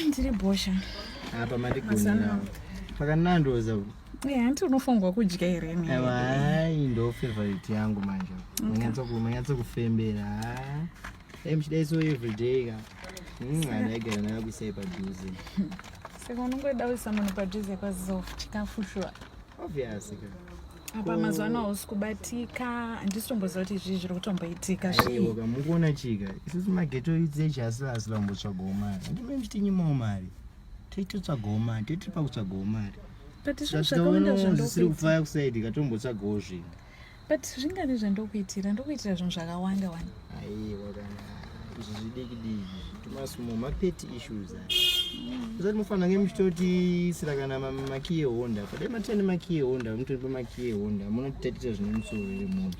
ndiri bhosha apa mandigonaa pakanandoza eh, hanti unofongwa kudya here hai ndo favorite yangu manje manyatso kufembera dai muchidai so everyday ka hmm, ana aigara nayo kuisai padhuze saka unongoda kuisa munhu padhuze kwazof chikafu shuwa obvious ka apa mazuva ano hausi kubatika handisi tomboziva kuti izvii zviri kutomboitika zvioka mukuona chika isusu mageto idzi echi asi asi vambotsvagawo mari ndime ndichitinyimawo mari toitotsvagawo mari toitiri pakutsvagawo mari zvisiri kufaya kusaidi katombotsvagawo zvinhu but zvingavi zvandokuitira ndokuitira zvinhu zvakawanda wani aiwa kana izvi zvidikidiki zvitumasumo mapeti issues usati mofanira nge muchitotisira kana makiye honda padai matene makiye honda mutoripa makiye honda munotitatisa zvine musoro iri munhu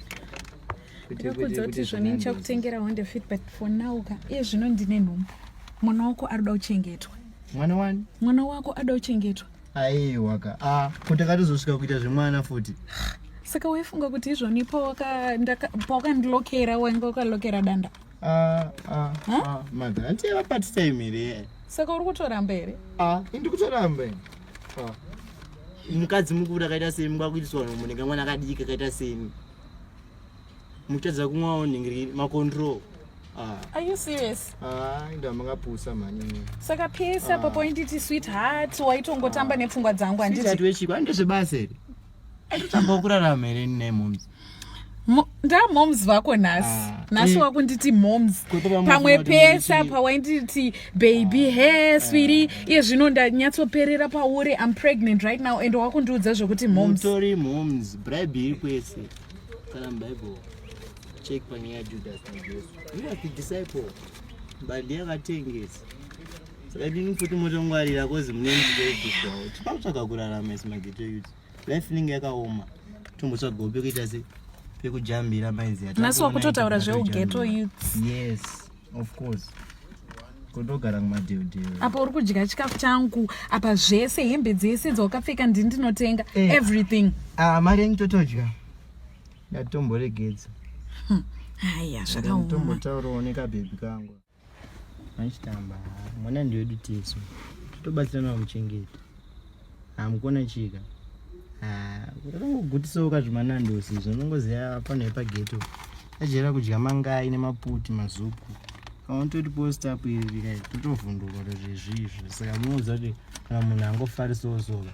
ndakudza kuti zvoni ndichakutengera honda fit but for now ka iye zvino ndine nhombo mwana wako ari kuda kuchengetwa mwana wani mwana wako ada kuchengetwa aiwa ka a ah, ko takatozosvika kuita zvemwana futi saka waifunga kuti izvoni pawakandilokera wainga ukalokera danda ah, ah, madha hanti yavapatisa imiri saka uri kutoramba here indi kutoramba mukadzi mukuru akaita semi kwakuitiswa vanhu munenge mwana akadiki akaita semi muchitadza kumwawo nhingi makontrol Ah. Are you serious? Ah, ndo makapusa mhani. Saka pesa ah. papo inditi sweetheart waitongotamba ah. nepfungwa dzangu anditi. Sweetheart wechiko andizve basa iri. Aitotamba kurarama here ne moms. ndamoms vako nhasi ah, nhasi eh. wakunditi moms pamwe pesa pawainditi baby ah, he eh. swiri iye zvino ndanyatsoperera pauri im pregnant right now and wakundiudza zvekuti momstori moms bribe iri kwese kana mubible Check panyaya yaJudasi naJesu. He was the disciple. Mbandi yakatengesa. Saka ndini futi motongwarira kozi mune mudediswawo. Tipa kutsvaga kurarama isi mageto youth. Life inenge yakaoma. Tombotsvagawo pekuita se pekujambira mainzi yata. Naso wakutotaura zveugeto youth. Yes, of course kundogara kumadhewdhewe apa uri kudya chikafu changu apa zvese hembe dzese dzawakapfeka ndini ndinotenga eh. everything ah, mari yenyu totodya ndatomboregedza haya zvakaomatombotaurawo nekabhebhi kangu achitamba mwana ndiwedu tesu tobatsirana muchengeta hamukona chika kutangogutisawo kazvimanandosi zvonongoziva pano yepageto achiyera kudya mangai nemaputi mazupu kana toti post up iri totovhunduka kuti zvezvizvo saka munoziva kuti kana munhu angofarisawo soka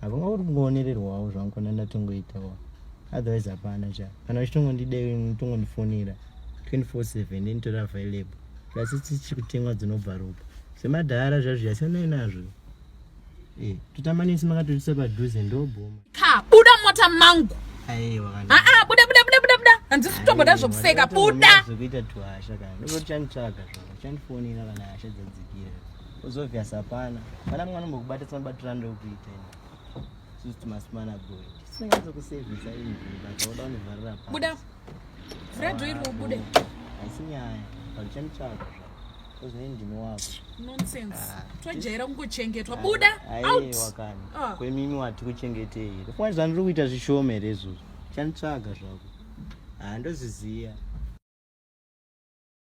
hapanga kuti kungoonererwawo zvangu kana ndatongoitawo otherwise hapana cha kana vachitongondidetongondifonera 24/7 ndinitori available plus ichichi kutengwa dzinobva ropa zvemadhara zvazvo yasiyanai nazvo eh, totamanisi makatoisa padhuze ndobhoma ka buda mota mangu aa buda buda buda buda buda handisi kutomboda zvokuseka buda zvekuita tuhasha kana ndokuti chanitsvaga zvavo chandifonera kana hasha dzadzikira Uzobvious hapana. Kana mwana mbokubata tsana batira ndo kuita. Just must man a boy. Singazo ku service ayi mvura. Toda ni varira pa. Buda. Vura do iri ubude. Asinyaya. Palichani chako. Kozini ndino wako. Nonsense. Ah, Twajaira kungochengetwa. Buda. Out. Ayi wakani. Ah. Kwe mimi wati kuchengetei. Kwa zvanuri kuita zvishome rezo. Chanitsvaga zvako. Ah ndozviziya.